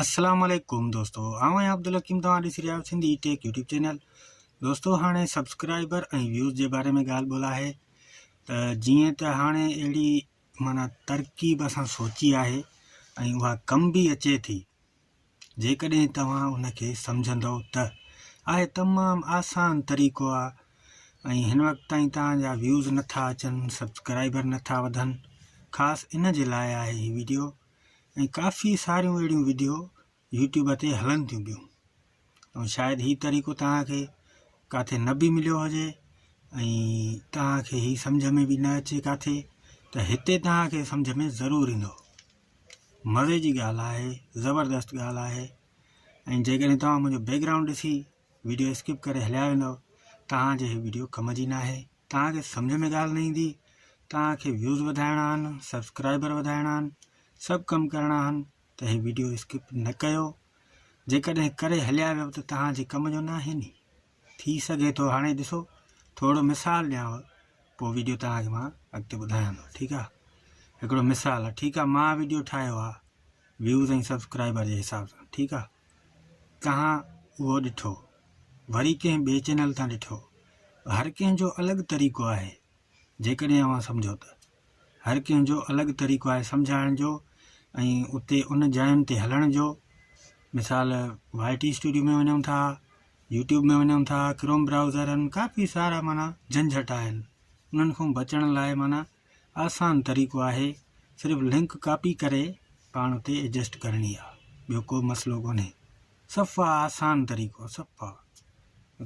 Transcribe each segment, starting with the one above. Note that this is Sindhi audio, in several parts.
السلام عليڪم دوستو آئون آهيان عبدالحڪيم توهان ڏسي رهيا آهيو سنڌي ٽيڪ يوٽيوب چينل دوستو هاڻي سبسڪرائبر ۽ ويوز جي باري ۾ ڳالهه ٻولهه آهي ته جيئن ته هاڻي اهڙي مانا ترڪيب اسان سوچي آهي ۽ اها ڪم به اچي ٿي جيڪڏهن توهان ان کي سمجهندو ته آهي تمام آسان طريقو آهي ۽ هن وقت تائين توهان جا ويوز نٿا اچن سبسڪرائبر نٿا وڌن خاص ان جي لاء آهي هي ويڊيو ۽ ڪافي ساريون اهڙيون وڊيو يوٽيوب تي هلن ٿيون پيون ۽ شايد هي طريقو توهان کي ڪاٿي نه به مليو هجي ۽ توهان کي هي سمجھ ۾ به نه اچي ڪاٿي ته هتي توهان کي سمجھ ۾ ضرور ايندو مزي جي ڳالهه آهي زبردست ڳالهه آهي ۽ جيڪڏهن توهان منهنجو بيڪگرائونڊ ڏسي ويڊيو اسڪپ ڪري هليا ويندؤ توهان جي هي ويڊيو ڪم جي ناهي توهان کي سمجهه ۾ ڳالهه نه ايندي توهان کي ويوز وڌائڻا آهن سبسڪرائبر وڌائڻا آهن سڀ ڪم ڪرڻا آهن ته هي ويڊيو اسڪپ نه ڪيو جيڪڏهن ڪري هليا ويو ته توهان جي ڪم جو ناهي ني ٿي سگهي ٿو هاڻي ڏسو ٿورو مثال ڏيانو پوء ويڊيو توهان کي مان اڳتي ٻڌايان ٿو ٺيڪ آهي هڪڙو مثال آهي ٺيڪ آهي مان ويڊيو ٺاهيو آهي ويوز ۽ سبسڪرائبر جي حساب سان ٺيڪ آهي ڪهان اهو ڏٺو، وري ڪنهن ٻئي چينل تان ڏٺو، هر ڪنهن جو الڳ طريقو آهي، جيڪڏهن اوهان سمجهو ته. هر ڪنهن جو الڳ طريقو آهي سمجهائڻ جو ۽ اتي ان جاين تي هلڻ جو، مثال وائي ٽي اسٽوڊيو ۾ وڃون ٿا، يوٽيوب ۾ وڃون ٿا، ڪروم برائوزر آهن، ڪافي سارا معنيٰ جهنجهٽ آهن، انهن کان بچڻ لاء معنيٰ. آسان طريقو آهي صرف لنڪ ڪاپي ڪري پاڻ تي ايڊجسٽ ڪرڻي آ ٻيو ڪو مسئلو ڪونهي صفا آسان طريقو صفا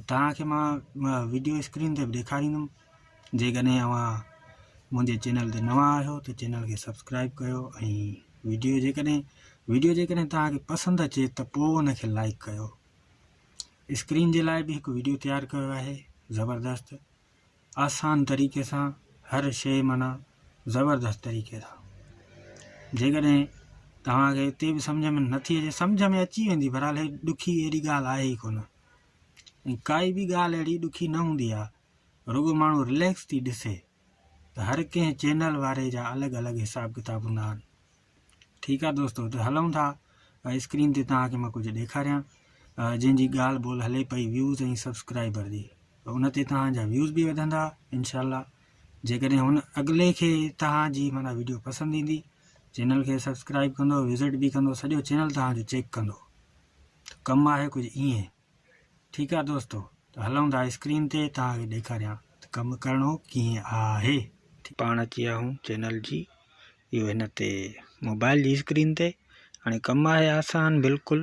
توهان کي مان ويڊيو اسڪرين تي به ڏيکاريندم جيڪڏهن اوهان منهنجي چينل تي نوان آهيو ته چينل کي سبسڪرائب ڪيو ۽ ويڊيو جيڪڏهن ويڊيو جيڪڏهن توهان کي پسند اچي ته پوء ان کي لائڪ ڪيو اسڪرين جي لاء به هڪ ويڊيو تيار ڪيو آهي زبردست آسان طريقي سان هر شيء معنيٰ زبردست طريقي سان جيڪڏهن توهان کي اتي به سمجھ ۾ نٿي اچي سمجھ ۾ اچي ويندي بھرحال هي ڏکي اهڙي ڳالھ آهي ئي ڪونه ۽ ڪائي به ڳالھ اهڙي ڏکي نه هوندي آهي رڳو ماڻهو رليڪس ٿي ڏسي ته هر ڪنهن چينل واري جا الڳ الڳ حساب ڪتاب هوندا آهن ٺيڪ آ دوستو ته هلون ٿا اسڪرين تي توهان کي مان ڪجهه ڏيکاريان جن جي ڳالهه ٻولهه هلي پئي ويوز ۽ سبسڪرائبر جي ان تي توهان جا ويوز به وڌندا انشاء الله جيڪڏهن هن اڳلي کي توهان جي مانا ويڊيو پسند ايندي چينل کي سبسڪرائب ڪندو وزٽ به ڪندو سڄو چينل توهان جو چيڪ ڪندو ته ڪم آهي ڪجهه ائين ٺيڪ آ دوستو ته هلون ٿا اسڪرين تي توهان کي ڏيکاريان ته ڪم ڪرڻو ڪيئن آهي. پاڻ اچي ويا آهيون چينل جي اهو هن تي موبائل جي اسڪرين تي هاڻي ڪم آهي آسان بلڪل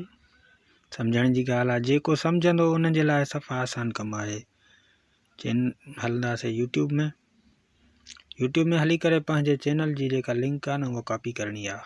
سمجهڻ جي ڳالهه آهي جيڪو سمجهندو ان جي لاء صفا آسان ڪم آهي چين هلنداسي يوٽيوب ۾ يوٽيوب ۾ هلي ڪري پنهنجي چينل جي جيڪا لنڪ آهي نه اها ڪاپي ڪرڻي آهي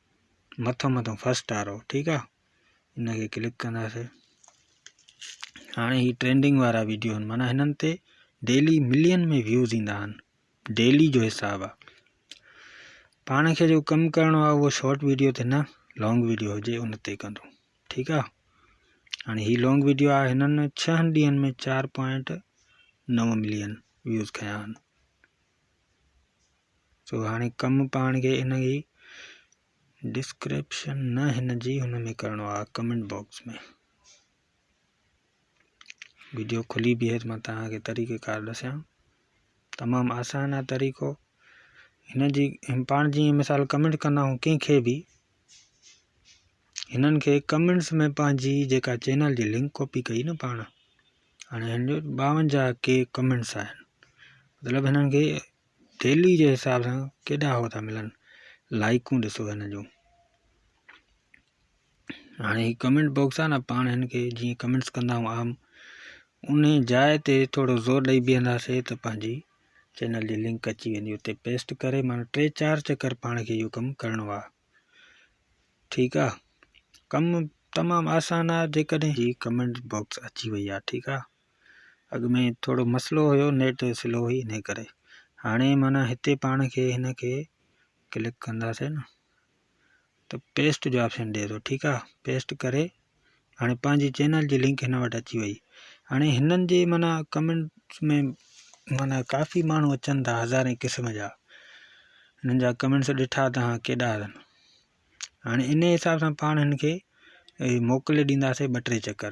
مٿو مٿو فرسٽ وارو ٺيڪ آ ان کي ڪلڪ ڪنداسي هاڻي هي ٽرينڊنگ وارا ويڊيو آهن معنيٰ هنن تي ڊيلي ملين ۾ ويوز ايندا آهن ڊيلي جو حساب آ پاڻ کي جو ڪم ڪرڻو آ اهو شارٽ ويڊيو تي نه لانگ ويڊيو هجي ان تي ڪندو ٺيڪ آ هاڻي هي لانگ ويڊيو آ هنن ڇهن ڏينهن ۾ چار پوائنٽ نو ملين ويوز کيا آهن سو هاڻي ڪم پاڻ کي ان جي ڊسڪرپشن نه هن جي هن ۾ ڪرڻو آهي ڪمنٽ باڪس ۾ ويڊيو کلي به هيت مان تهان کي طريقه ڪار ڏسيان تمام آسان آهي طريقو هن جي پاڻ جي مثال ڪمنٽ ڪندا آهيون ڪنهنکي به هنن کي ڪمنٽس ۾ پنهنجي جيڪا چينل جي لنڪ ڪاپي ڪئي نه پاڻ هاڻي هن جو ٻاونجاهه ڪي ڪمنٽس آهن مطلب هنن کي ٿيلهي جي حساب سان ڪيڏا هو ٿا ملن لائيڪون ڏسو هن جون هاڻي هي ڪمينٽ باڪس آهي نه پاڻ هن کي جيئن ڪمينٽس ڪندا آهيون عام ان جاء تي ٿورو زور ڏئي بيهنداسي ته پنهنجي چينل جي لنڪ اچي ويندي اتي پيسٽ ڪري مانا ٽي چار چڪر پاڻ کي اهو ڪم ڪرڻو آهي ٺيڪ آهي ڪم تمام آسان آهي جيڪڏهن هي ڪمينٽ باڪس اچي وئي آهي ٺيڪ آهي اڳ ۾ ٿورو مسئلو هيو نيٽ سلو هئي انهي ڪري هاڻي معنيٰ هتي پاڻ کي هن کي ڪلڪ ڪنداسين نه ته پيسٽ جو آپشن ڏي ٿو ٺيڪ آ پيسٽ ڪري هاڻي پنهنجي چينل جي لنڪ هن وٽ اچي وئي هاڻي هنن جي معنيٰ ڪمينٽس ۾ معنيٰ ڪافي ماڻهو اچن ٿا هزارين قسم جا هنن جا ڪمينٽس ڏٺا توهان ڪيڏا اٿن هاڻي ان حساب سان پاڻ هن کي موڪلي ڏينداسين ٻه ٽي چڪر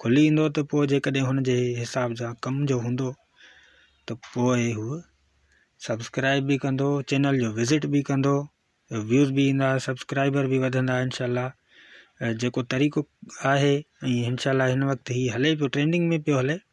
کلي ايندو ته پوء جيڪڏهن هن جي حساب سان ڪم جو هوندو ته پوء هو سبسڪرائب به ڪندو چينل جو وزٽ به ڪندو ويوز به ايندا سبسڪرائبر به وڌندا انشاءالله جيڪو طريقو آهي ۽ انشاءالله هن وقت هي هلي پيو ٽرينڊنگ ۾ پيو هلي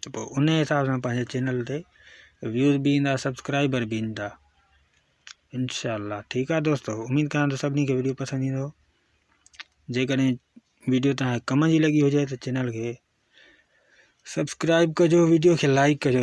ته پوء ان حساب سان پنهنجي چينل تي ويوز به ايندا سبسڪرائبر به ايندا انشاء الله ٺيڪ آ دوستو اميد ڪران ٿو سڀني کي ويڊيو پسند ايندو جيڪڏهن ويڊيو تان ڪم جي لڳي هجي ته چينل کي سبسڪرائب ڪجو ويڊيو کي لائڪ ڪجو